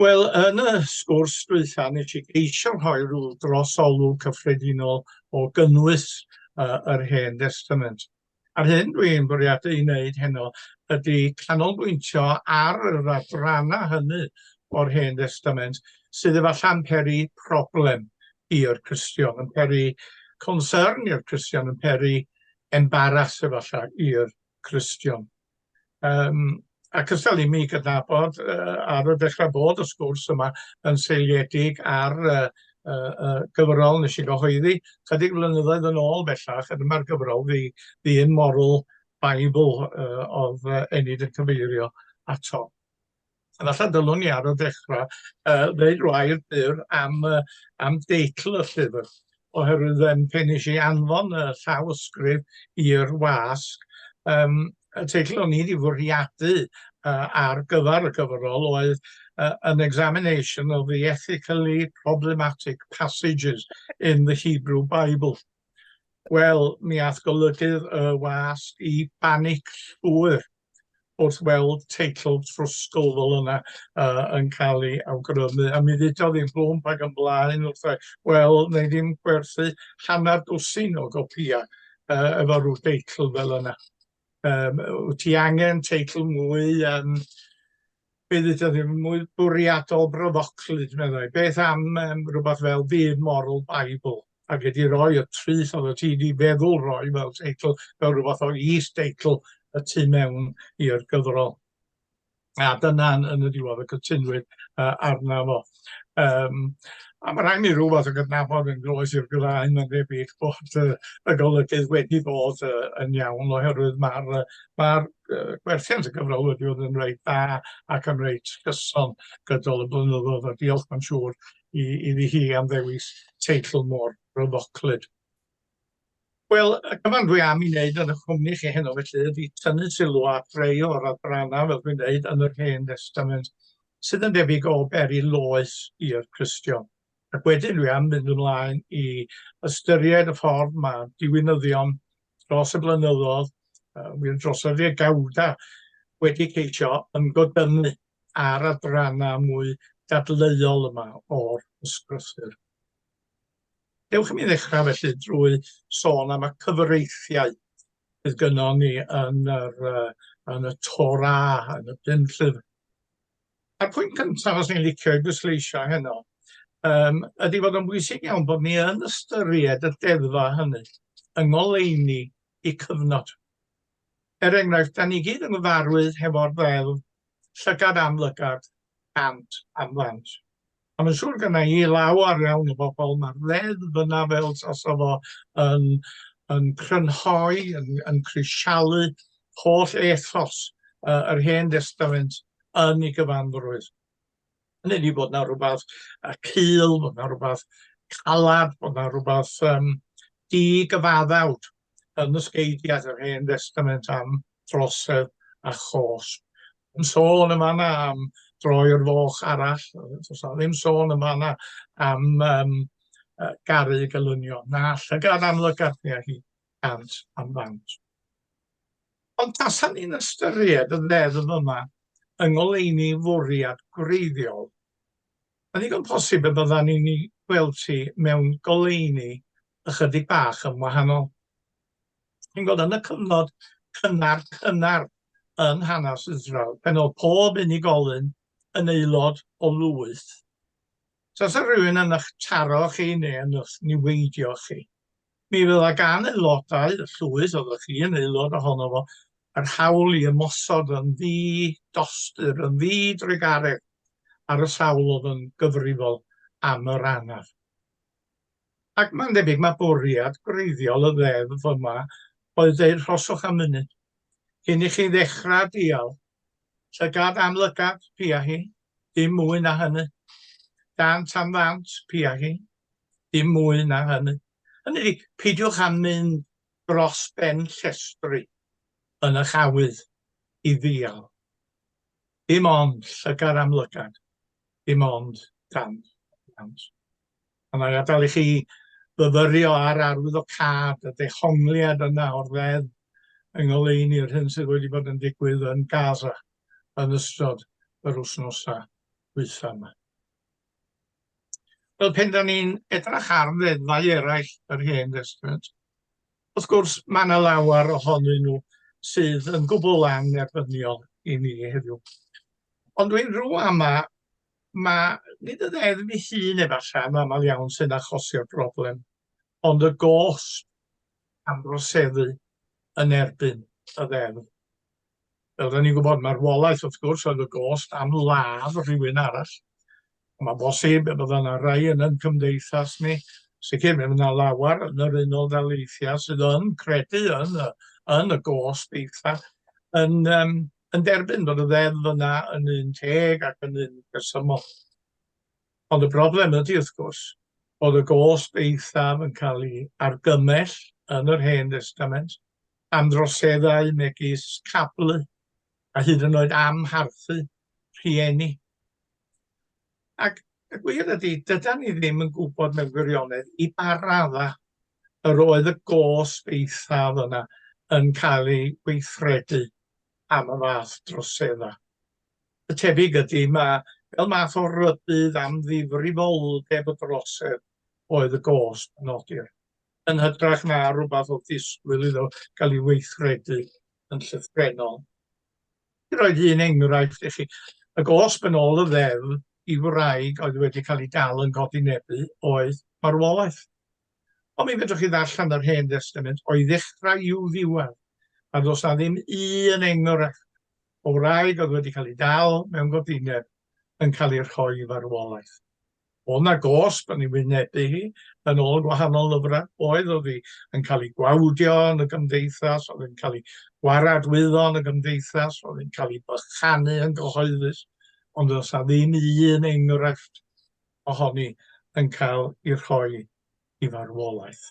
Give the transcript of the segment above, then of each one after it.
Wel, yn y sgwrs dwytha, nes i geisio rhoi rhyw drosolwg cyffredinol o gynnwys uh, yr Hen Destament. A'r hyn dw i'n bwriadu ei wneud heno ydy canolbwyntio ar yr adrannau hynny o'r Hen Destament sydd efallai'n peri problem i'r Cristion, yn peri concern i'r Cristion, yn peri embaras efallai i'r Cristion. Yym ac os dal i mi gydnabod yy ar y dechra bod y sgwrs yma yn seiliedig ar yy yy y gyfrol nes i gyhoeddi chydig flynyddoedd yn ôl bellach a dyma'r gyfrol The The Immoral Bible yy o'dd yy Enid yn cyfeirio ato. A falla dylwn i ar y ddechrau uh, ddeud rhai byr am, uh, am deitl y llyfr, oherwydd um, pen eisiau anfon y llawysgrif i'r wasg, um, y teitl o'n i wedi fwriadu uh, ar gyfer y gyfrol oedd uh, An Examination of the Ethically Problematic Passages in the Hebrew Bible. Wel, mi ath golygydd y wasg i banic llwyr. wrth weld teitl trwsgl fel yna uh, yn cael ei awgrymu, a mi ddudodd i'r blwm ag yn blaen wrth e, wel, neu ddim gwerthu hanner dwsin o gopïau uh, efo rhyw deitl fel yna. Um, wyt ti angen teitl mwy um, Bydd eto ddim mwy bwriadol brofoclyd, meddai. Beth am um, rhywbeth fel Byd Moral Bible? A wedi rhoi y trith oedd y ti wedi feddwl roi fel teitl, fel rhywbeth o is-deitl y tu mewn i'r gyfrol. A dyna yn y diwedd y cytunwyd uh, arna fo. Yym, a ma' raid mi rw fath o gydnabod yn groes i'r graen ma'n debyg bod yy y golygydd wedi bod yy yn iawn oherwydd ma'r yy ma'r yy gwerthiant y gyfrol wedi bod yn reit dda ac yn reit cyson gydol y blynyddodd a diolch ma'n siŵr i iddi hi am ddewis teitl mor ryfoclyd. Wel, y cyfan dwi am 'i wneud yn 'ych cwmni chi heno felly ydi tynnu sylw at rei o'r adrannau, fel dwi'n dweud, yn yr Hen Destament, sydd yn debyg o beri loes i'r Cristion. Ac wedyn dwi am mynd ymlaen i ystyried y ffordd ma' diwinyddion dros y blynyddoedd, yy wir dros y ddegawda, wedi ceisio ymgodynnu ar adrannau mwy dadleuol yma o'r Ysgrythur. Dewch i mi ddechrau felly drwy sôn am y cyfreithiau sydd gynnon ni yn yr uh, yn y Torah, yn y pum llyfr. A'r pwynt cyntaf os ni'n licio i bwysleisio heno, um, ydy fod yn bwysig iawn bod ni yn ystyried y deddfa hynny yng ngoleuni i cyfnod. Er enghraifft, da ni gyd yn gyfarwydd hefo'r ddeddf llygad am lygad, cant am ddant. A mae'n siŵr gyda i lawer iawn o bobl, mae'r ddeddf yna fel tasa fo yn, yn crynhoi, yn, yn crisialu holl ethos uh, yr Hen Destament yn ei gyfanrwydd. Hynny ydi bod yna rhywbeth y cul, bod yna rhywbeth calad, bod yna rhywbeth um, di-gyfaddawd yn y sgeidiau yr hen destament am drosedd a chos. Yn sôn yma yna am droi'r foch arall, os na ddim sôn yma yna am um, garu gelynion, na llygad amlygarthnia hi. cant am ddant. Ond tasan ni'n ystyried y ddeddf yma yng ngoleuni fwriad gwreiddiol, mae'n ddigon posib y byddan ni'n ei gweld hi mewn goleuni ychydig bach yn wahanol. Chi'n gwybod, yn y cyfnod cynnar cynnar yn hanes Israel, pan oedd pob unigolyn yn aelod o lwyth, tasa rhywun yn eich taro chi neu yn eich niweidio chi, Mi fydda gan aelodau y llwyth oeddech chi yn aelod ohono fo yr hawl i ymosod yn ddi-dostur, yn ddi-drugaredd ar y sawl oedd yn gyfrifol am yr anaf. Ac mae'n debyg mae bwriad gwreiddiol y ddeddf yma oedd deud rhoswch am funud cyn i chi ddechrau dial llygad am lygad, pia hi, dim mwy na hynny, dant am ddant, pia hi, Dim mwy na hynny. Hynny ydi, peidiwch â mynd dros ben llestri yn eich awydd i ddial. Dim ond llygad am lygad, dim ond dant am dant. A mae'n adael i chi fyfyrio ar arwyddocâd y dehongliad yna o'r ddeddf yng ngoleuni'r hyn sydd wedi bod yn digwydd yn Gaza yn ystod yr wythnosau dwytha yma. Wel, pen da ni'n edrach ar ddeddfau eraill yr Hen Destament, wrth gwrs, mae yna lawer ohonyn nhw sydd yn gwbl annerbyniol i ni heddiw. Ond dwi'n rhyw ama, mae nid y ddeddf ei hun efallai yn aml iawn sy'n achosi'r broblem, ond y gost am droseddu yn erbyn y ddeddf. fel rydyn ni'n gwybod, marwolaeth wrth gwrs oedd y gost am ladd rhywun arall. Mae'n bosib y bydda yna rai yn yn cymdeithas ni, sicr mi yna lawer yn yr unol daleithiau sydd yn credu yn y, yn y gost eitha, yn, um, yn derbyn bod y ddeddf yna yn un teg ac yn un resymol. Ond y broblem ydy wrth gwrs bod y gost eithaf yn cael ei argymell yn yr Hen Testament am droseddau megis cablu a hyd yn oed amharchu rhieni. Ac y gwir ydy, dyda ni ddim yn gwybod mewn gwirionedd i ba raddau yr oedd y gosb eithaf yna yn cael ei weithredu am y fath droseddau. Y tebyg ydy, mae fel math o rybudd am ddifrifoldeb y drosedd oedd y gosb yn nodi'r yn hytrach na rhywbeth oedd disgwyl iddo gael ei weithredu yn llythrennol. I roed un enghraifft i chi, y gosb yn ôl y ddeddf i wraig oedd wedi cael ei dal yn codi nebu oedd marwolaeth. Ond mi fedrwch chi ddarllen yr Hen Destament o'i ddechrau i'w ddiwedd, a does na ddim un enghraifft o wraig oedd wedi cael ei dal mewn godineb yn cael ei rhoi i farwolaeth. O' 'na gosb yn ei wynebu hi, yn ôl gwahanol lyfrau, oedd, oedd hi yn cael ei gwawdio yn y gymdeithas, oedd hi'n cael ei waradwyddo yn y gymdeithas, oedd hi'n cael ei bychanu yn gyhoeddus, ond does 'na ddim un enghraifft ohoni yn cael ei rhoi i farwolaeth.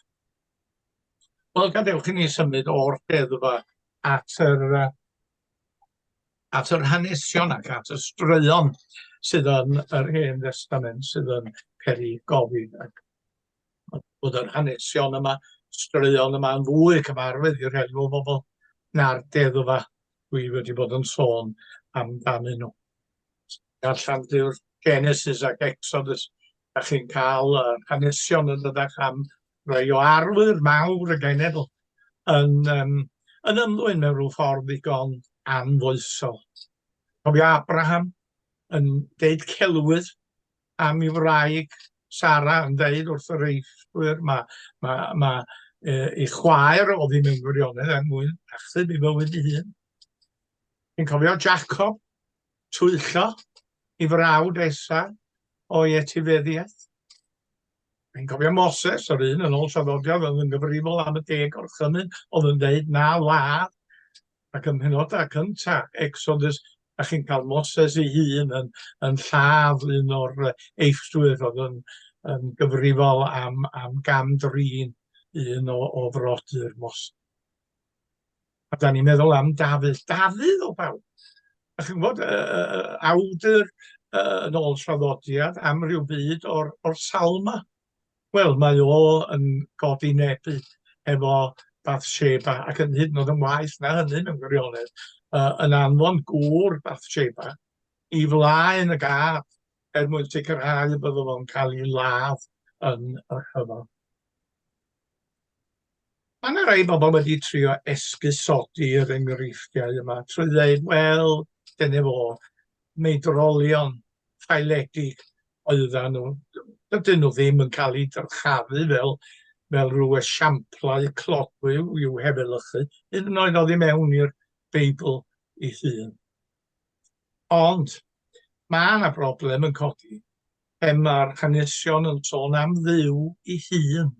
Wel, gadewch i ni symud o'r deddfa at yr at yr hanesion ac at y straeon sydd yn yr Hen Destament sydd yn peri gofyn ac bod yr hanesion yma, straeon yma yn fwy cyfarwydd i'r rhai o bobl na'r deddfa dwi wedi bod yn sôn amdanyn nhw. Darllen dyw'r Genesis ac Exodus, a chi'n cael yr hanesion yn ddydach am Mae o arwydd mawr y genedl yn yym yn ymddwyn mewn rhyw ffordd ddigon anfoesol. Cofio Abraham yn deud celwydd am ei wraig Sara yn deud wrth yr eillwyr ma' ma' ma' yy ei chwaer o ddim yn gwirionedd er mwyn achub ei fywyd ei hun. Dwi'n cofio Jacob twyllo ei frawd Esau o'i etifeddiaeth. Dwi'n cofio Moses, yr un yn ôl traddodiad, oedd yn gyfrifol am y deg o'r chymyn, oedd yn dweud na ladd, ac ym mhenodau cynta Exodus, a chi'n cael Moses ei hun yn, yn lladd un o'r eifftwyr oedd yn, yn gyfrifol am, am gam drin un o, o frodyr Moses. A da ni'n meddwl am Dafydd. Dafydd o bawb! A chi'n gwybod, uh, uh, awdur uh, yn ôl traddodiad am ryw byd o'r, or salma. Wel, mae o yn godi nebu efo Bathsheba, ac yn hyd yn oed yn waith na hynny mewn gwirionedd, uh, yn anfon gŵr Bathsheba i flaen y gaf er mwyn sicrhau y byddo fo'n cael ei ladd yn y rhyfel. Mae yna rai bobl wedi trio esgusodi'r enghreifftiau yma trwy ddeud, wel, dyna fo, meidrolion ffaeledig oeddan nhw. Dydyn nhw ddim yn cael eu dyrchafu fel, fel rhyw esiamplau clogwyw i'w hefelychu, hyd yn oed oddi mewn i'r Beibl ei hun. Ond, mae yna broblem yn codi pe mae'r hanesion yn sôn am Dduw ei hun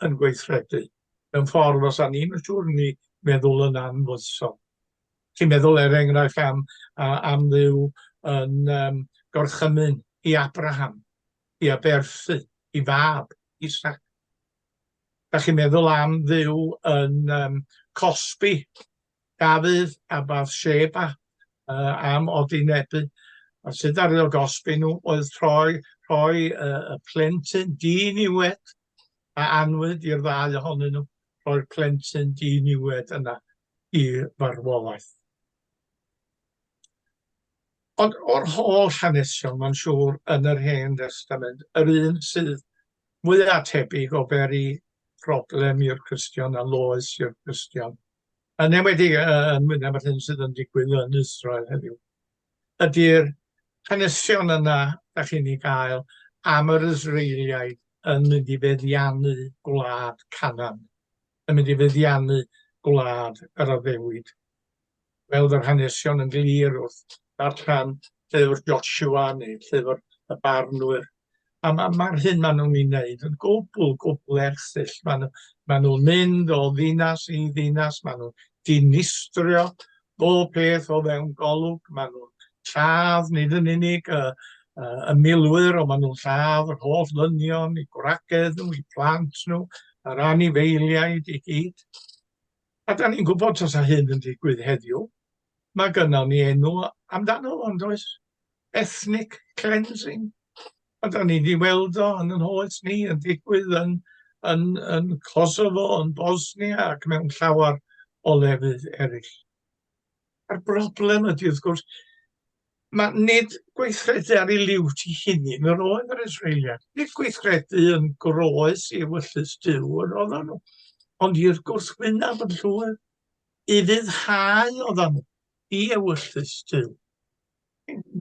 yn gweithredu mewn ffordd os a ni'n siŵr ni meddwl yn anfoesol. Ti'n meddwl, er enghraifft, am, am Dduw yn um, gorchymyn i Abraham, i aberthu, i fab, Isaac. Da chi'n meddwl am Dduw yn um, cosbi Dafydd a Bathsheba yy am odynebu, a sut ddaru o gosbi nhw oedd troi rhoi yy y plentyn di-niwed a anwyd i'r ddau ohonyn nhw, rhoi'r plentyn di-niwed yna i farwolaeth. Ond o'r holl hanesion, mae'n siŵr, yn yr Hen Destament, yr un sydd mwya' tebyg o beri problem i'r Cristion a loes i'r Cristion yn enwedig yy yn mynna bod hyn sydd yn digwydd yn Israel heddiw, ydy'r hanesion yna da chi'n ei gael am yr Israeliaid yn mynd i feddiannu gwlad Canan, yn mynd i feddiannu gwlad yr addewid. Fel yr hanesion yn glir wrth ddarllen llyfr Joshua neu llyfr y barnwyr, A ma' ma'r hyn ma' nhw'n ei wneud yn gwbl, gwbl erchyll. Ma' nhw ma' nhw'n mynd o ddinas i ddinas, ma' nhw'n dinistrio bob peth o fewn golwg, ma' nhw'n lladd nid yn unig y y y milwyr, ond ma' nhw'n lladd yr holl ddynion, eu gwragedd nhw, eu plant nhw, yr anifeiliaid i gyd. A 'dan ni'n gwbod tasa hyn yn digwydd heddiw, Mae gynnon ni enw amdano fo, yn does? Ethnic cleansing. A da ni wedi weld o yn yn hoes ni, yn digwydd yn, yn, yn Kosovo, yn Bosnia ac mewn llawer o lefydd eraill. A'r broblem ydy, wrth gwrs, mae nid gweithredu ar ei liwt i hunin yr oedd yr Israeliad. Nid gweithredu yn groes i wyllus Dyw yr oedden nhw, ond i'r gwrthwynaf yn llwyr. i ryddhau ofal i ewyllys Duw.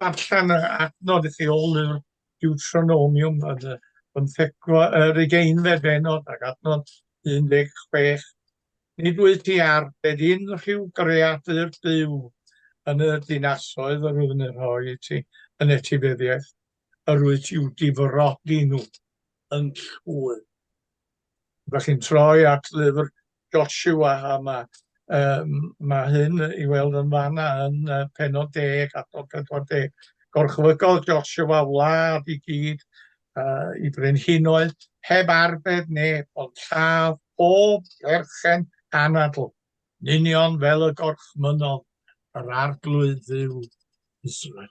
Darllen yr adnod i chi o lyfr Deuteronomium yn y bymthegfa, yr ugeinfed bennod ac adnod 16. Nid wyt ti ar bed unrhyw greadur Duw yn y dinasoedd yr wyf yn eu rhoi i ti yn etifeddiaeth, yr wyt i'w difrodi nhw yn llwyr. Rydych chi'n troi at lyfr Joshua a mae, um, mae hyn i weld yn fanna yn uh, penod deg, adnod 40. Gorchfygodd Joshua wlad i gyd uh, i brenhinoedd heb arbed neb, ond lladd pob perchen anadl, union fel y gorchmynodd yr arglwydd dduw Israel.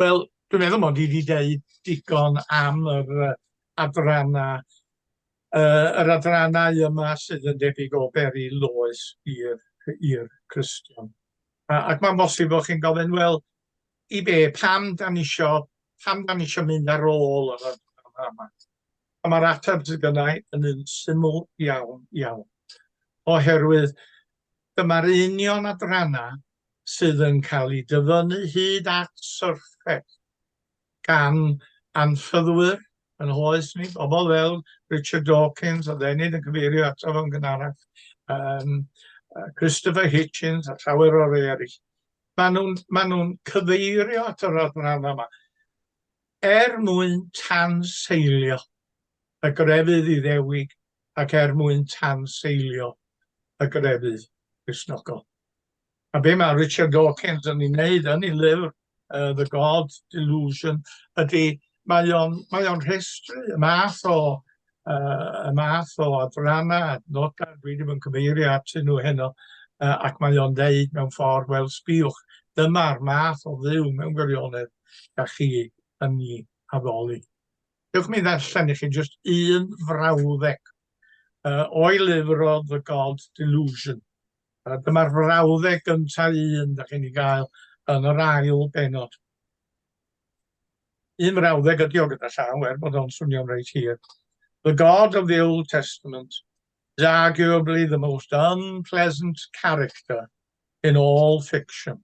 Wel, dwi'n meddwl mod i 'di deud digon am yr yy adranna yy yr adrannau yma sydd yn debyg o beri loes i'r i'r Cristion. A ac ma'n bosib bo' chi'n gofyn, wel, i be', pam 'dan ni isio pam 'dan ni isio mynd ar ôl yr adranna yma? A ma'r ateb sy gynna' i yn un syml iawn iawn, oherwydd Dyma'r union adrannau sydd yn cael eu dyfynnu hyd at syrffes gan anffyddwyr yn hoes ni, bobl fel Richard Dawkins, oedd Enid yn cyfeirio ato fo'n gynharach, um, Christopher Hitchens a llawer o rei eraill. Maen nhw'n ma nhw cyfeirio at yr adrannau yma er mwyn tanseilio y grefydd Iddewig ac er mwyn tanseilio y grefydd Cristnogol. A be mae Richard Dawkins yn ei wneud yn ei lyfr uh, The God Delusion ydy mae o'n mae o'n rhestru y math o uh, y math o adrana adnodau dwi ddim yn cyfeirio atyn nhw heno uh, ac mae o'n dweud mewn ffordd wel sbiwch dyma'r math o dduw mewn gwirionedd da chi yn ni addoli. Dewch mi ddarllen i chi jyst un frawddeg uh, o'i lyfr o The God Delusion. Uh, Dyma'r frawddeg gyntaf un da chi'n ei gael yn yr ail benod. Un frawddeg ydi o gyda llaw, er bod o'n swnio'n reit hir. The God of the Old Testament is arguably the most unpleasant character in all fiction.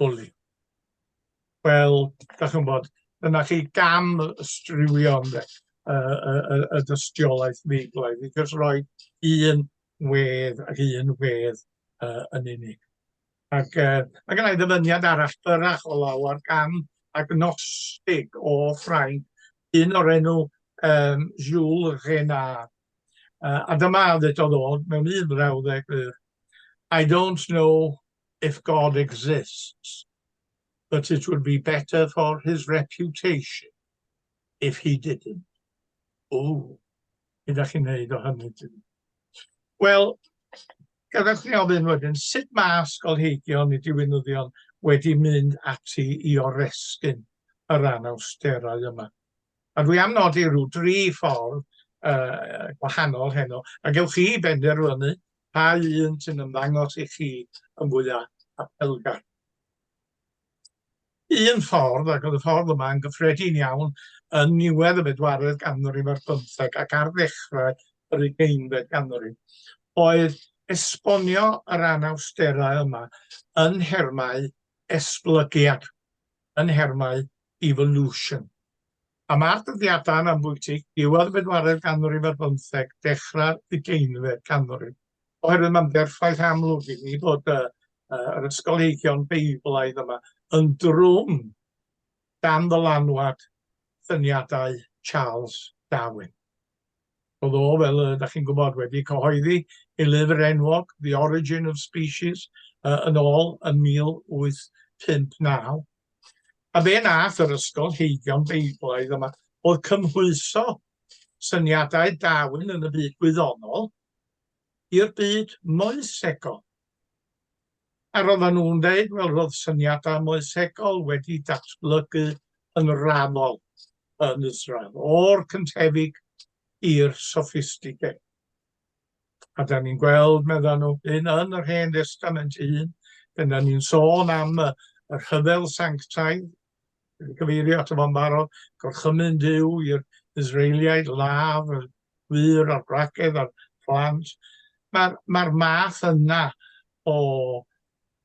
bwli. Wel, da chi'n bod, dyna chi gam striwio ynde, y, y, y, y dystiolaeth feiglaidd, i jyst rhoi un wedd ac un wedd uh, yn unig. Ac uh, mae gennau ddyfyniad arall byrach o law ar gan agnostig o Ffrainc, un o'r enw um, Jules Renard. Uh, a dyma ddedodd o mewn un frawddeg I don't know if God exists, but it would be better for his reputation if he didn't. O, beth ydych chi'n neud o hynny? Wel, gadewch ni ofyn wedyn, sut mae ysgolheigion neu diwinyddion wedi mynd ati i oresgyn y rhan awsterau yma? A dwi am nodi rhyw dri ffordd uh, gwahanol heno, a gewch chi benderfynu Pa un sy'n ymddangos i chi yn fwyaf apelgar? Un ffordd, ac oedd y ffordd yma yn gyffredin iawn yn niwedd y bedwaredd ganrif ar bymtheg ac ar ddechrau yr ugeinfed ganrif, oedd esbonio yr anawsterau yma yn nhermau esblygiad, yn nhermau evolution. Am ar dyddiadau yn ambwytig, diwedd y bedwaredd ganrif ar bymtheg, dechrau'r ugeinfed ganrif. Oherwydd mae'n berffaith amlwg i ni bod y, y, yr ysgolheigion Beiblaidd yma yn drwm dan ddylanwad syniadau Charles Darwin. Oedd o, fel y da chi'n gwybod, wedi cyhoeddi ei lyfr enwog, The Origin of Species, uh, yn ôl yn 1859. A fe nath yr ysgol heigion Beiblaidd yma oedd cymhwyso syniadau Darwin yn y byd gwyddonol i'r byd moesegol. A roeddan nhw'n dweud, wel, roedd syniadau moesegol wedi datblygu yn raddol yn Israel, o'r cyntefig i'r soffistigedig. A da ni'n gweld, meddyn nhw, hyn yn yr Hen Destament ei hun, pan da ni'n sôn am y rhyfel sanctaidd, gyfeirio ato fo'n barod, gorchymyn Duw i'r Israeliaid, ladd y wyr a'r bracedd a'r plant. Mae'r mae math yna o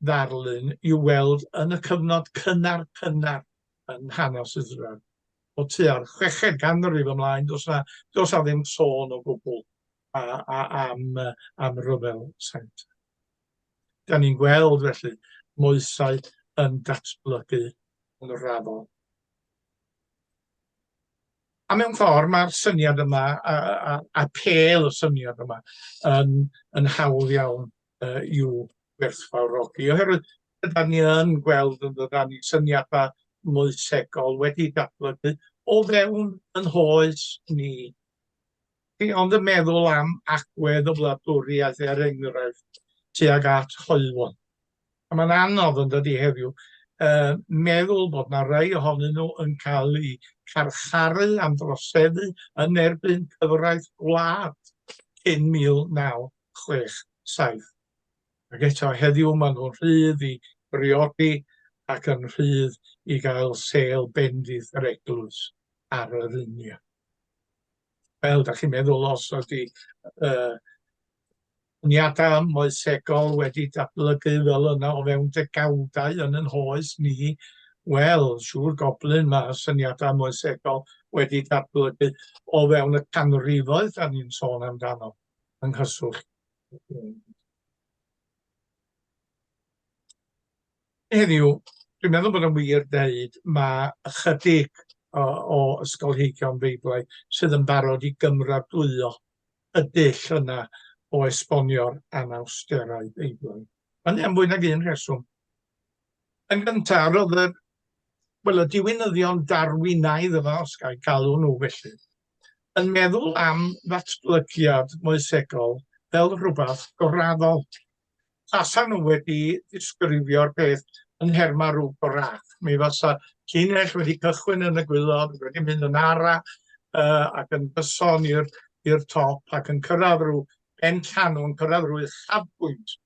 ddarlun i'w weld yn y cyfnod cynnar cynnar yn hanes Israel. O tua'r chweched ganrif ymlaen, dos na, dos na ddim sôn o gwbl am, am ryfel saint. Da ni'n gweld felly moesau yn datblygu yn raddol. A mewn ffordd mae'r syniad yma a, a, a pel y syniad yma yn, yn hawdd iawn uh, i'w gwerthfawrogi oherwydd ydy ni yn gweld yn dda ni syniadau moesegol wedi datblygu o fewn yn hoes ni. Dwi ond yn meddwl am agwedd y wladwriaeth er enghraifft tuag at hoelfon. A mae'n anodd yn dydy heddiw uh, meddwl bod na rai ohonyn nhw yn cael eu carcharu am droseddu yn erbyn cyfraith gwlad cyn 1967. Ac eto heddiw maen nhw'n rhydd i briodi ac yn rhydd i gael sêl bendith yr eglwys ar yr union. Wel, da chi'n meddwl os ydy uh, niadau moesegol wedi datblygu fel yna o fewn degawdau yn yn hoes ni, wel, siŵr goblyn mae syniadau moesegol wedi datblygu o fewn y canrifoedd da ni'n sôn amdano yng nghyswllt. Heddiw, dwi'n meddwl bod yn wir deud mae ychydig o, o ysgolheigion Feiblaidd sydd yn barod i gymradwyo y dull yna o esbonio'r anawsterau Beiblaidd. Hynny am fwy nag un rheswm. Yn gyntaf, roedd yr, wel, y diwinyddion Darwinaidd yma, os gael galw nhw felly, yn meddwl am ddatblygiad moesegol fel rhywbeth goraddol. tasan nhw wedi disgrifio'r peth yn nhermau rhyw gorach. Mi fasa llinell wedi cychwyn yn y gwylod, wedi mynd yn ara uh, ac yn gyson i'r top ac yn cyrraedd rhyw ben llanw, yn cyrraedd rhyw uchafbwynt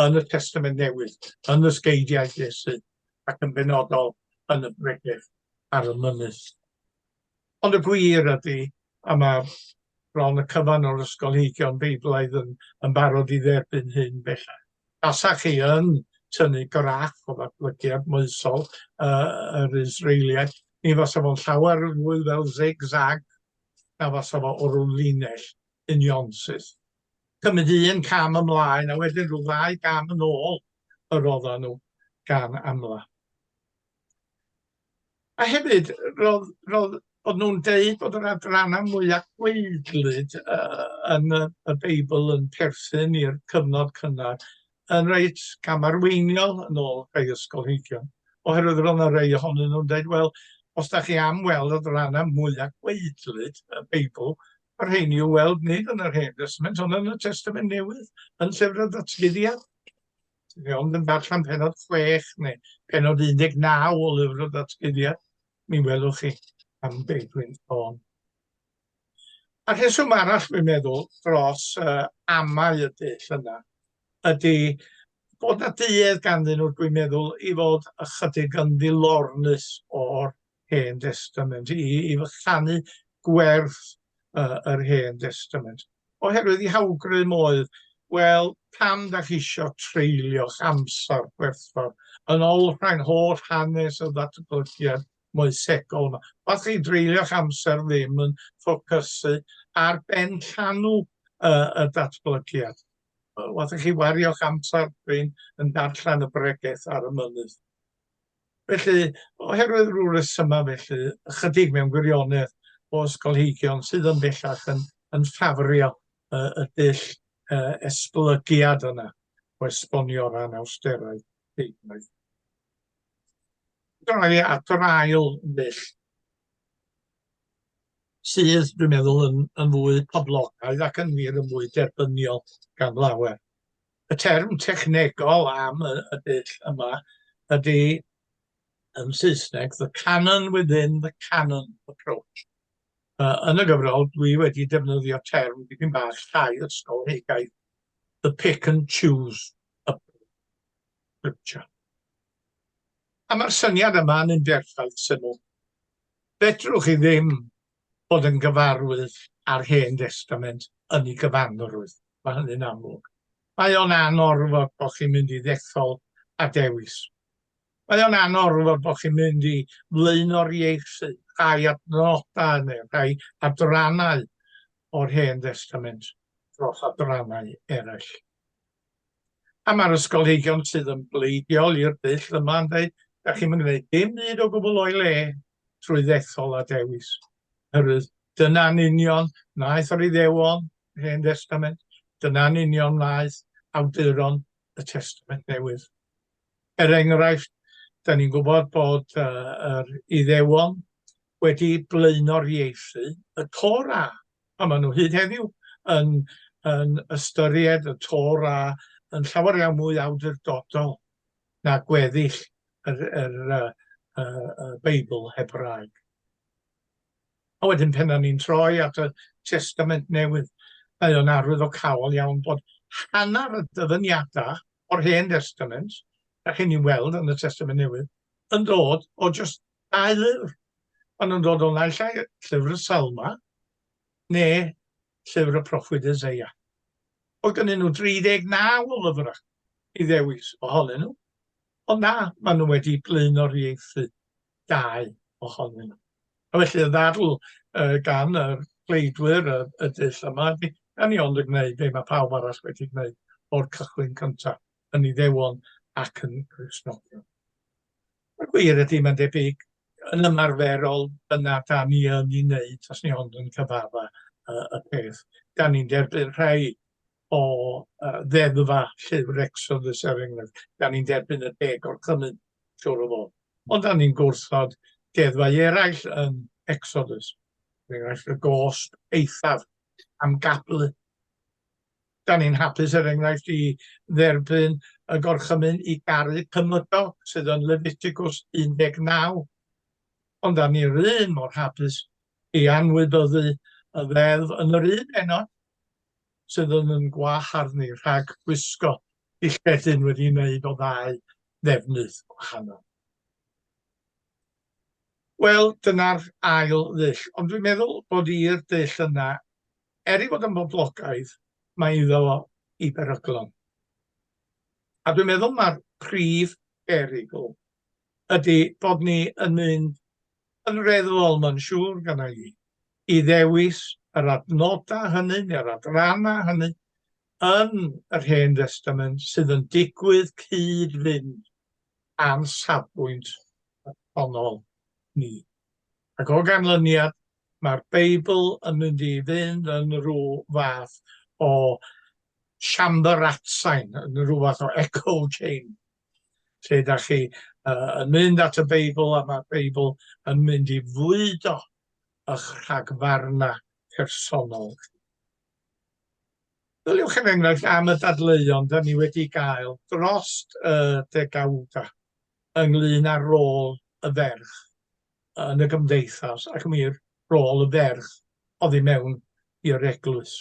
yn y Testament Newydd, yn y sgeidiau Iesu ac yn benodol yn y bregeth ar y mynydd. Ond y gwir ydy, a mae bron y cyfan o'r ysgolheigion Beiblaidd yn yn barod i dderbyn hyn bellach, tasach chi yn tynnu graff o ddatblygiad moesol yr Israeliaid, mi fasa fo'n llawer fwy fel zig-zag na fasa fo o ryw linell unionsyth. Cymryd un cam ymlaen a wedyn rhyw ddau gam yn ôl yr oeddan nhw gan amla. A hefyd, roedd, roedd... oedden nhw'n deud bod yr adrannau mwya' gwaedlyd yy yn y y Beibl yn perthyn i'r cyfnod cynnar, yn reit gamarweiniol yn ôl rhai ysgolheigion, oherwydd roedd 'na rei ohonyn nhw'n deud, wel, os dach chi am weld adrannau mwya' gwaedlyd y Beibl, y rheini i'w weld nid yn yr Hen Destament ond yn y Testament Newydd, yn Llyfr y Ddatguddiad. Ti'n iawn, yn darllen penod chwech neu penod 19 o lyfr o ddatguddiad, mi welwch chi am be' dwi'n sôn. A rheswm arall dwi'n meddwl dros uh, amau y dull yna ydy bod na duedd ganddyn nhw dwi'n meddwl i fod ychydig yn ddilornus o'r Hen Destament, i, i fychanu gwerth uh, yr Hen Destament. Oherwydd i hawgrym oedd, wel, pam da chi eisiau treulio'ch amser gwerthfawr yn olrhain holl hanes y ddatblygiad moesegol yma. Os chi dreulio'ch amser ddim yn ffocysu ar ben llanw uh, y datblygiad, os chi wario'ch amser ddim yn darllen y bregeth ar y mynydd. Felly, oherwydd rhyw resymau felly, ychydig mewn gwirionedd o ysgolheigion sydd yn bellach yn, yn ffafrio y, y dull uh, esblygiad yna o esbonio ran awsterau deunaidd. Dyna ni at yr ail dull sydd, dwi'n meddwl, yn, yn fwy poblogaidd ac yn wir yn fwy derbyniol gan lawer. Y term technegol am y, y dull yma ydy yn Saesneg, the canon within the canon approach. Uh, yn y gyfrol, dwi wedi defnyddio term dipyn bach llai ysgolheigaidd, the pick and choose approach. A mae'r syniad yma yn un berffaith syml. Fedrwch chi ddim bod yn gyfarwydd â'r Hen Destament yn ei gyfanrwydd. Mae hynny'n amlwg. Mae o'n anorfod bod chi'n mynd i ddethol a dewis. Mae o'n anorfod bod chi'n mynd i flaenoriaethu rhai adnodau neu rhai adrannau o'r Hen Destament dros adrannau eraill. A mae'r ysgolheigion sydd yn bleidiol i'r dull yma yn dweud, da chi'm yn gwneud dim byd o gwbl o'i le trwy ddethol a dewis. Oherwydd dyna'n union wnaeth yr Iddewon, yr Hen Destament, dyna'n union wnaeth awduron y Testament Newydd. Er enghraifft, da ni'n gwybod bod uh, yr Iddewon wedi blaenoriaethu y Torah, a maen nhw hyd heddiw yn, yn ystyried y Torah yn llawer iawn mwy awdurdodol na gweddill yr, yr, y, y, y Beibl Hebraeg. A wedyn pen ni'n troi at y Testament Newydd, mae o'n arwyddocaol iawn bod hanner y dyfyniadau o'r Hen Testament, a chi'n ni'n weld yn y Testament Newydd, yn dod o just Dau lyfr, maen nhw'n dod o naill ai Llyfr y Salmau neu Llyfr y Proffwyd Eseia. Oedd gennyn nhw 39 o lyfrau i ddewis ohonyn nhw, ond na, maen nhw wedi blaenoriaethu dau ohonyn nhw. A felly y ddadl uh, gan y pleidwyr y, y dull yma ydy, gan ni ond yn gwneud be mae pawb arall wedi gwneud o'r cychwyn cyntaf, yn Iddewon ac yn Gristnogion. Y gwir ydy, mae'n debyg, yn ymarferol, dyna da ni yn ei wneud, os ni ond yn cyfarfa uh, y peth. Da ni'n derbyn rhai o uh, ddeddfa llyfr Exodus er enghraifft. Da ni'n derbyn y deg o'r cymun, siwr o fod. Ond da ni'n gwrthod deddfau eraill yn Exodus. Er enghraifft, y gosb eithaf am gablu. 'dan ni'n hapus er enghraifft i dderbyn y gorchymyn i garu cymydog sydd yn Leviticus 19, ond 'dan ni'r un mor hapus i anwybyddu y ddeddf yn yr un pennod sydd yn yn gwahardd ni rhag gwisgo dillledyn wedi'i wneud o ddau ddefnydd gwahanol. Wel, dyna'r ail ddull, ond dwi'n meddwl bod i'r dull yna, er ei fod yn boblogaidd, mae iddo fo ei beryglon. A dwi'n meddwl mae'r prif berygl ydy bod ni yn mynd yn reddfol, mae'n siŵr gynna i, i ddewis yr adnodau hynny neu'r adrannau hynny yn yr Hen Destament sydd yn digwydd cyd-fynd â'n safbwynt personol ni. Ac o ganlyniad, mae'r Beibl yn mynd i fynd yn rhyw fath o siambr atsain, yn rhyw fath o echo chamber, lle da chi uh, yn mynd at y Beibl a mae'r Beibl yn mynd i fwydo eich rhagfarna personol chi. Byliwch yn enghraifft am y dadleuon da ni wedi gael dros y degawda. ynglŷn â'r rôl y ferch yn y gymdeithas ac yn wir, rôl y ferch oddi mewn i'r eglwys.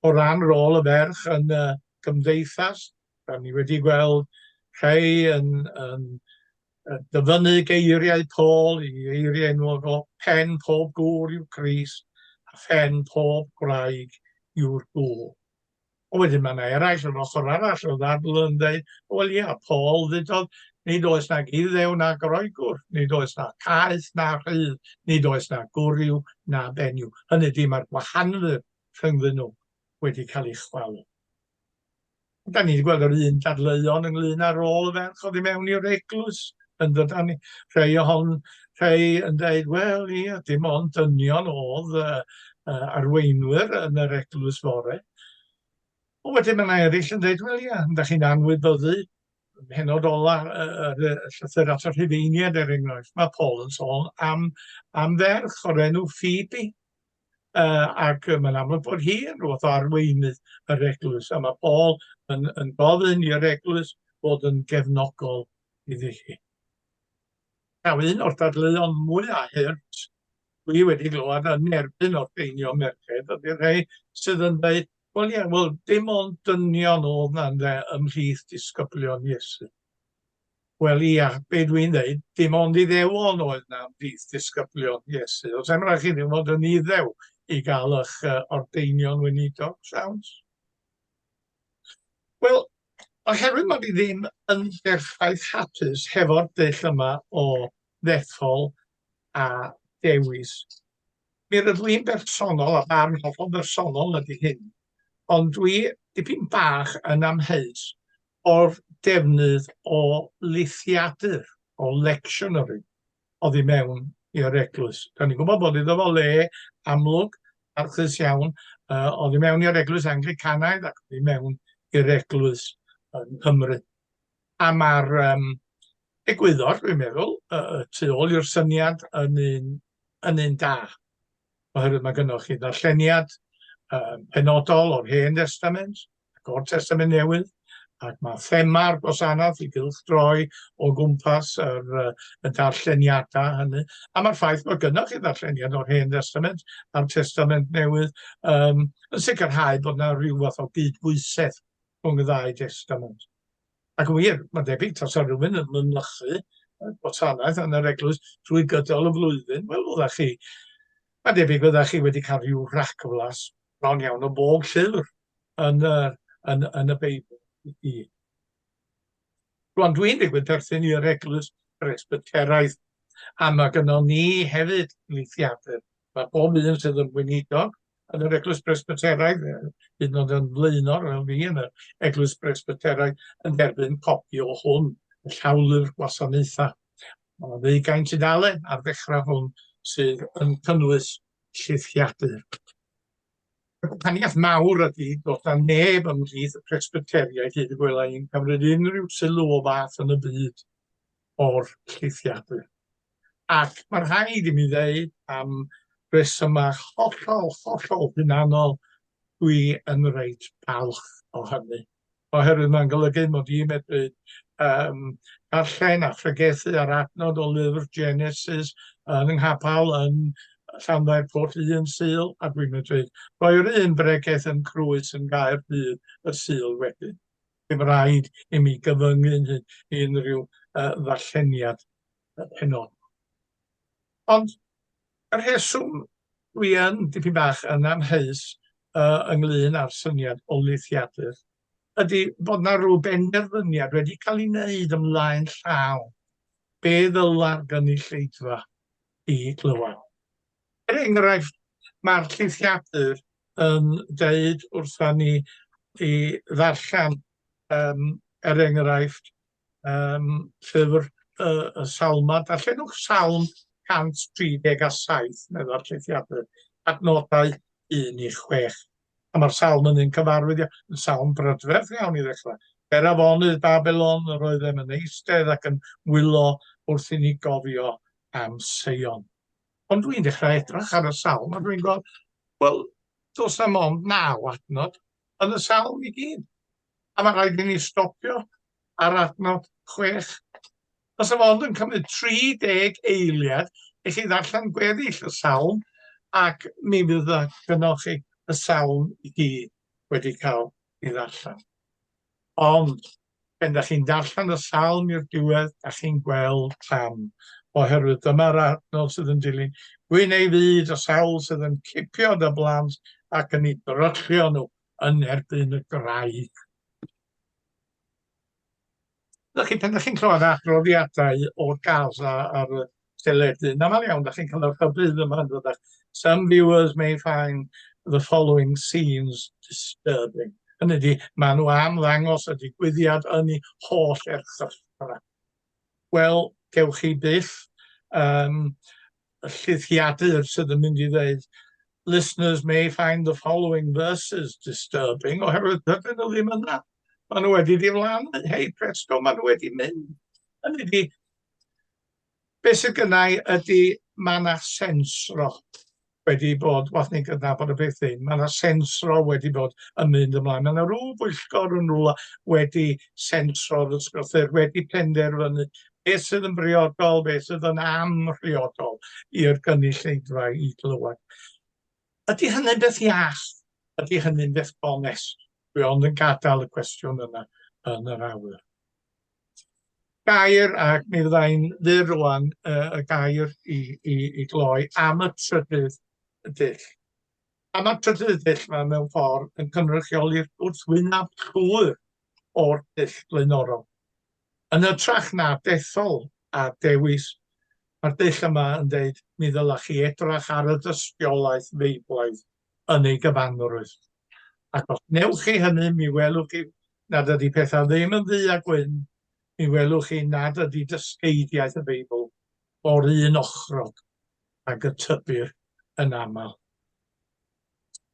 O ran rôl y ferch yn y gymdeithas, rydyn ni wedi gweld rhai yn, yn dyfynnu geiriau Paul i eiriau enwog o pen pob gŵr yw Christ a phen pob gwraig yw'r gŵr. Ond wedyn mae yna eraill yr ochr arall o ddadl yn dweud, wel ia, Paul ddudodd, nid oes nag Iddew na Groegwr, nid oes na caeth na rhydd, nid oes na gwryw na benyw. Hynny ydy, mae'r gwahanwyr rhyngddyn nhw wedi cael ei chwalu. Da ni wedi gweld yr un dadleuon ynglyn â rôl y ferch oddi mewn i'r eglwys, yn dod â ni. Rhai ohon- rhai yn deud, wel, ia, dim ond dynion oedd y, y arweinwyr yn yr eglwys fore. Ond wedyn mae yna eraill yn dweud, wel, ia, ydych chi'n anwybyddu penod ola y, y, y llythyr at y rhufeiniad, er enghraifft. Mae Paul yn sôn am, am ferch o'r enw Phoebe, uh, ac mae'n amlwg bod hi yn rhywbeth o arweinydd yr eglwys, a mae Paul yn, yn gofyn i'r eglwys bod yn gefnogol iddi hi. Mae un o'r dadleuon mwyaf hurt dwi wedi glywed yn erbyn orffeinio merched ydy'r rhai sydd yn dweud, wel ie, wel dim ond dynion oedd na ynde ymhlith disgyblion Iesu. Wel ia, be dwi'n dweud, dim ond iddewon oedd na ymhlith disgyblion Iesu. Os am rhaid chi ddim fod yn iddew i gael eich uh, ordeinion weinidog, siawns? Wel, oherwydd mae fi ddim yn berffaith hapus hefo'r dull yma o ddethol a dewis. Mi rydw i'n bersonol, a barn hollol bersonol ydy hyn, ond dwi dipyn bach yn amheus o'r defnydd o lithiadur, o lectionary. oddi mewn i'r eglwys. Da ni'n gwybod bod iddo fo le amlwg, archus iawn, uh, oddi mewn i'r eglwys Anglicanaidd ac oddi mewn i'r eglwys yng Nghymru. A mae'r um, egwyddor, dwi'n meddwl, y, y tu ôl i'r syniad yn un, yn un da. Oherwydd mae gennych chi ddarlleniad um, penodol o'r Hen Testament, ac o'r Testament Newydd, ac mae thema'r gwasanaeth i gylchdroi o gwmpas yr, y darlleniadau hynny. A mae'r ffaith bod gynnwch chi ddarlleniad o'r Hen Testament a'r Testament Newydd um, yn sicrhau bod yna rhyw fath o gydbwysedd rhwng y ddau testament. Ac yn wir, mae'n debyg tas ar rhywun yn mynychu gwasanaeth yn yr eglwys drwy gydol y flwyddyn, wel, oeddech chi, mae'n debyg oeddech chi wedi cael rhyw rhagflas bron iawn o bob llyfr yn, uh, yn, yn y Beibl i. Rwan, dwi'n digwydd perthyn i'r eglwys Presbyteraidd, a mae gynnal ni hefyd leithiadau. Mae bob un sydd yn weinidog yn yr eglwys Presbyteraidd, hyd yn oed yn flaenor fel fi yn yr eglwys Presbyteraidd, yn derbyn copi o hwn, y llawlyfr gwasanaethau. Mae ddeugain tudalen ar ddechrau hwn sydd yn cynnwys llithiadur. Y gwahaniaeth mawr ydy bod na neb ymhlith y Presbyteriaid hyd y gwela i'n cymryd unrhyw sylw o fath yn y byd o'r llithiadur. Ac mae rhaid i mi ddeud am resymau hollol, hollol hunanol, dwi yn reit balch o hynny. oherwydd mae'n golygu mod i'n medru um, darllen a phregethu ar adnod o lyfr Genesis yn nghapel yn Llanfair Port un syl a dwi'n medru rhoi'r un bregeth yn Crwys yn gair dydd y syl wedyn. Dim rhaid i mi gyfyngu'n hyn i unrhyw uh, ddarlleniad penod. Ond Y rheswm dwi yn dipyn bach yn amheus yy ynglŷn â'r syniad o lithiadur ydi bod 'na rw benderfyniad wedi cael ei wneud ymlaen llaw be ddyla'r gynulleidfa i glywed. Er enghraifft, mae'r llithiadur yn deud wrtha ni i ddarllen, um, er enghraifft, um, llyfr uh, y salma, darllenwch salm 137, meddwl llethiadau, adnodau 1 i 6. A mae'r salm yn un cyfarwydd yn salm brydferth iawn i ddechrau. Er afonydd Babylon, yr oeddem yn eistedd ac yn wylo wrth i ni gofio am Seion. Ond dwi'n dechrau edrych ar y salm a dwi'n gweld, wel, dos na mond naw adnod yn y salm i gyd. a mae'n rhaid i ni stopio ar adnod chwech. Os y fod yn cymryd 30 eiliad i chi ddarllen gweddill y salm, ac mi fydd y gynnwch chi y salm i gyd wedi cael ei ddarllen. Ond, pen da chi'n darllen y salm i'r diwedd, da chi'n gweld pam, oherwydd dyma'r adnod sydd yn dilyn, Gwyn ei fyd y sawl sydd yn cipio dy blant ac yn ei dryllio nhw, yn erbyn y graig. Ydych chi, pan ydych chi'n clywed adroddiadau o Gaza ar y teledu, yn aml iawn, ydych chi'n cael yr hybydd yma yn dod Some viewers may find the following scenes disturbing. Hynny ydi, maen nhw am ddangos y digwyddiad yn ei holl erchylltra. Wel, gewch chi byth um, y llithiadur sydd yn mynd i ddeud listeners may find the following verses disturbing, oherwydd dydyn nhw ddim yna. Maen nhw wedi diflannu, hei presto, maen nhw wedi mynd. Hynny ydi, be sydd gynnau ydy, mae yna sensro wedi bod, wath ni'n gydnabod y beth hyn, mae yna sensro wedi bod yn mynd ymlaen. Mae yna rhyw bwyllgor yn rhywle wedi sensro'r ysgolthwyr, wedi penderfynu beth sydd yn briodol, beth sydd yn amhriodol i'r gynulleidfa i glywed. Ydy hynny'n beth iach? Ydy hynny'n beth bonus? Dwi ond yn gadael y cwestiwn yna yn yr awyr. Gair, ac mi fydda i'n fyr rwan, uh, y gair i, i, i gloi am y trydydd dull. Am y trydydd dull mae mewn ffordd yn cynrychioli'r gwrthwynaf llwyr o'r dull blaenorol. Yn hytrach na dethol a dewis, mae'r dull yma yn dweud, mi ddylech chi edrach ar y dystiolaeth Feiblaidd yn ei gyfanrwydd. Ac os wnewch chi hynny, mi welwch chi nad ydy pethau ddim yn ddu a gwyn, mi welwch chi nad ydy dysgeidiaeth y Beibl o'r un ochrog ag y tybir yn aml.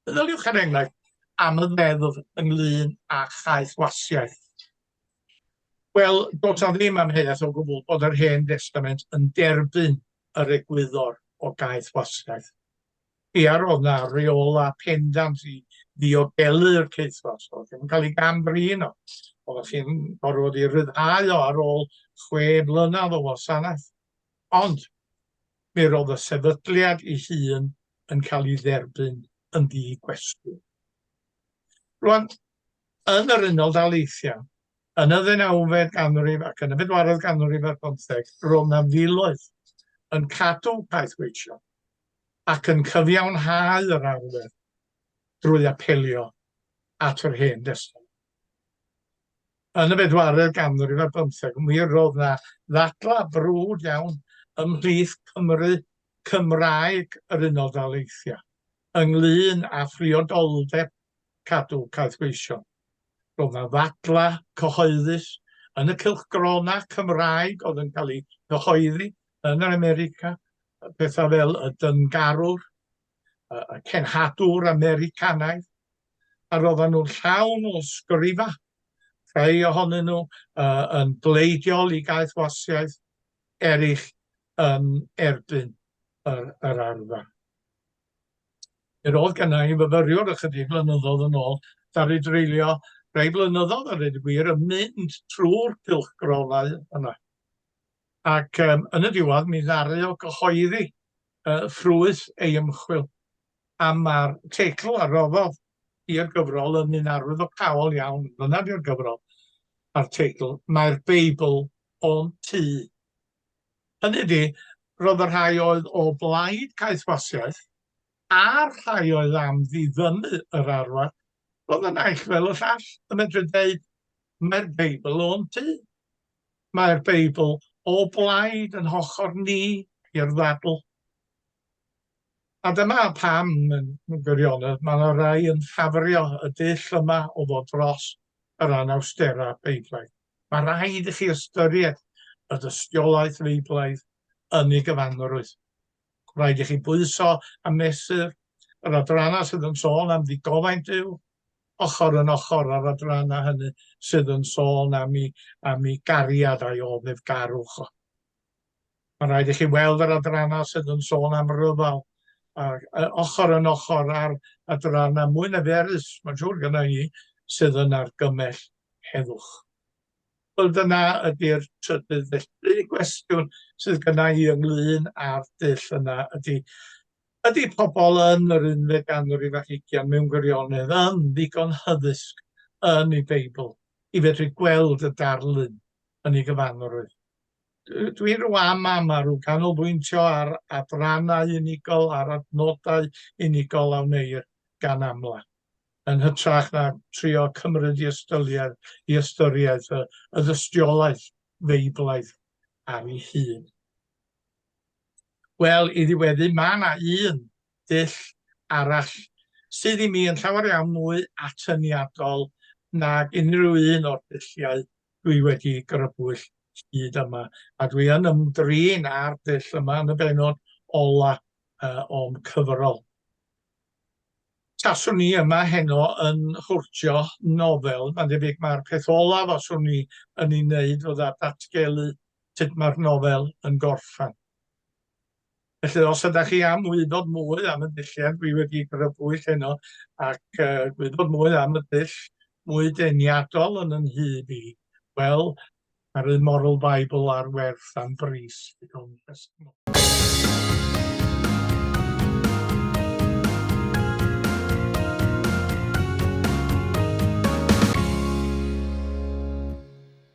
Meddyliwch, er enghraifft, am y ddeddf ynglyn â chaethwasiaeth. Wel, does 'na ddim amheuaeth o gwbl bod yr Hen Destament yn derbyn yr egwyddor o gaeth wasgaeth. Ia, roedd 'na reolau pendant i ddiogelu'r caethwasg, oedd ddim yn cael ei gam-drin o, oedd chi'n gorfod ei ryddhau o ar ôl chwe mlynedd o wasanaeth. Ond mi roedd y sefydliad ei hun yn cael ei dderbyn yn ddi-gwestiwn. Rŵan, yn yr Unol Daleithiau, yn y ddeunawfed ganrif ac yn y bedwaredd ganrif ar bymtheg, roedd 'na filoedd yn cadw caethweithio ac yn cyfiawnhau yr arfer drwy apelio at yr Hen Destament. Yn y bedwaredd ganrif ar bymtheg, mi roedd 'na ddadlau brwd iawn ymhlith Cymry Cymraeg yr Unol Daleithiau ynglŷn â phriodoldeb cadw caethweision. Roedd 'na ddadlau cyhoeddus yn y cylchgronau Cymraeg oedd yn cael eu cyhoeddi yn yr America, pethau fel y dyngarwr, y cenhadwr Americanaidd, a roedden nhw'n llawn o sgrifa, rhai ohonyn nhw uh, yn bleidiol i gaethwasiaeth, eraill yn erbyn yr, yr arfer. Yr oedd gynna i fyfyriwr ychydig flynyddoedd yn ôl, ddaru dreulio rhai blynyddoedd a dweud y gwir yn mynd trwy'r cylchgrawnau yna. Ac um, yn y diwedd mi ddaru o gyhoeddi uh, ffrwyth ei ymchwil a mae'r teitl a roddodd i'r gyfrol yn un arwyddocaol iawn, dyna di'r gyfrol a'r teitl, mae'r Beibl o'n tu Hynny ydi, roedd y rhai oedd o blaid caethwasiaeth a'r rhai oedd am ddiddymu yr arwr, roedd y naill fel y llall yn medru dweud, Mae'r Beibl o'n tu. Mae'r Beibl o blaid yn hochr ni i'r ddadl. A dyma pam, yn gwirionedd, mae yna rai yn ffafrio y dull yma o ddod dros yr anawsterau Beiblaidd. Mae rhaid i chi ystyried y dystiolaeth Feiblaidd yn ei gyfanrwydd. Rhaid i chi bwyso a mesur yr adrannau sydd yn sôn am ddigofaint Duw, ochr yn ochr â'r adrannau hynny sydd yn sôn am ei gariad a'i oddefgarwch o. Mae'n rhaid i chi weld yr adrannau sydd yn sôn am ryfel ac yy ochr yn ochr â'r adrannau mwy niferus, mae'n siŵr gynna i, sydd yn argymell heddwch. Wel dyna ydy'r trydydd felly gwestiwn sydd gynna i ynglyn â'r dull yna ydy ydy pobl yn yr unfed ganrif ar hugian mewn gwirionedd yn ddigon hyddysg yn ei Beibl i fedru gweld y darlun yn ei gyfanrwydd? dwi'n rwan ma ma rw canolbwyntio ar adrannau unigol, ar adnodau unigol a wneir gan amla, yn hytrach na trio cymryd i ystyried, i ystyriaeth y, y ddystiolaeth feiblaidd ar ei hun. Wel, i ddiweddu, mae yna un dull arall sydd i mi yn llawer iawn mwy atyniadol nag unrhyw un o'r dulliau dwi wedi grybwyll hyd yma, a dwi yn ymdrin â'r dull yma yn y benod ola uh, o'n cyfrol. Taswn ni yma heno yn hwrtio nofel, mae'n debyg mae'r peth olaf os o'n ni yn ei wneud fydda datgelu sut mae'r nofel yn gorffan. Felly os ydach chi am wybod mwy am y dulliau dwi wedi grybwyll heno ac uh, gwybod mwy am y dull mwy deniadol yn yn hyd i, wel, mae'r un Moral Bible ar werth am bris.